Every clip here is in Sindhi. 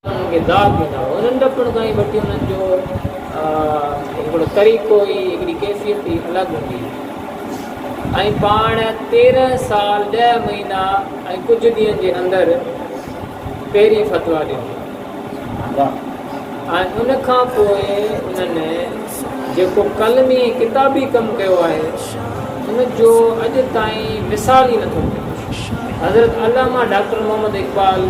انهن کي داغ ڏيندا هئا. ننڍپڻ کان ئي وٺي انهن جو هڪڙو طريقو ئي، هڪڙي ڪيفيت ئي الڳ هوندي هئي ۽ پاڻ تيرنهن سال ڏهه مهينا ۽ ڪجهه ڏينهن جي اندر پهرين فتويٰ ڏنو ۽ ان کان پوء انهن جيڪو قلمي ڪتابي ڪم ڪيو آهي، ان جو اڄ تائين مثال ئي نٿو ملي. حضرت علامه ڊاڪٽر محمد اقبال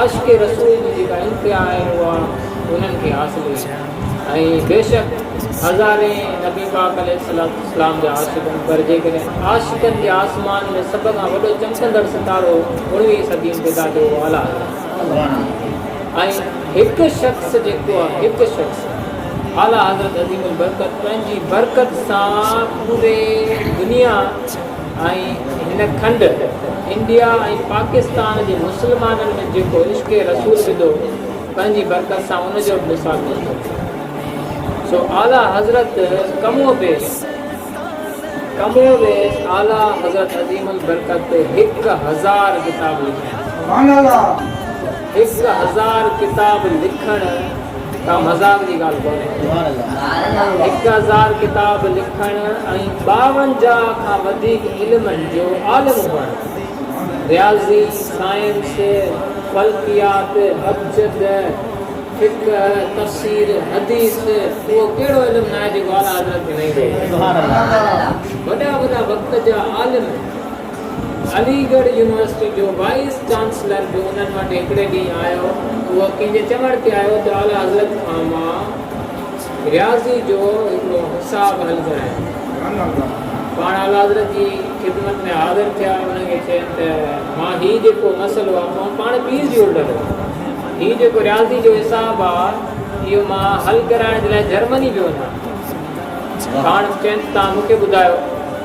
عاشق رسول جي جيڪا امتيا آهن اها انهن کي حاصل هئي ۽ بيشڪ هزارين نبي پاڪ عليه الصلوة والسلام جا عاشق هئا پر جيڪڏهن عاشقن جي آسمان ۾ سڀ کان وڏو چمڪندڙ ستارو اڻويهين صدي ۾ پيدا ٿيو اهو اعليٰ حضرت ۽ هڪ شخص جيڪو هڪ شخص اعليٰ حضرت عظيم البرڪت پنهنجي برڪت سان پوري دنيا ۽ هن کنڊ، انڊيا ۽ پاڪستان جي مسلمانن ۾ جيڪو عشق رسول وڌو، پنهنجي برڪت سان ان جو به مثال پيش ڪيو. سو اعليٰ حضرت ڪم و بيس ڪم و بيس اعليٰ حضرت عظيم البرڪت هڪ هزار ڪتاب لکيا. سبحان الله. هڪ هزار ڪتاب لکڻ ڪا مذاق جي ڳالهه ڪونهي. هڪ هزار ڪتاب لکڻ ۽ ٻاونجاهه کان وڌيڪ علمن جو عالم هئڻ، رياضي، سائنس، فلڪيات، ابجد، فقه، تفسير، حديث، اهو ڪهڙو علم ناهي جيڪو اعليٰ حضرت کي نه ايندو هجي. وڏا وڏا وقت جا عالم. علي ڳڙهه يونيورسٽي جو وائيس چانسلر به انهن وٽ هڪڙي ڏينهن آيو. اهو ڪنهن جي چوڻ تي آيو ته اعليٰ حضرت کان مان رياضي جو هڪڙو حساب حل ڪرايم. پاڻ اعليٰ حضرت جي خدمت ۾ حاضر ٿيا. انهن کي چيم ته مان هي جيڪو مسئلو آ مان پاڻ پي ايڇ ڊي هولڊر هو. هي جيڪو رياضي جو حساب آ اهو مان حل ڪرائڻ جي لاء جرمني پيو وڃان. پاڻ چيم ته توهان مون کي ٻڌايو.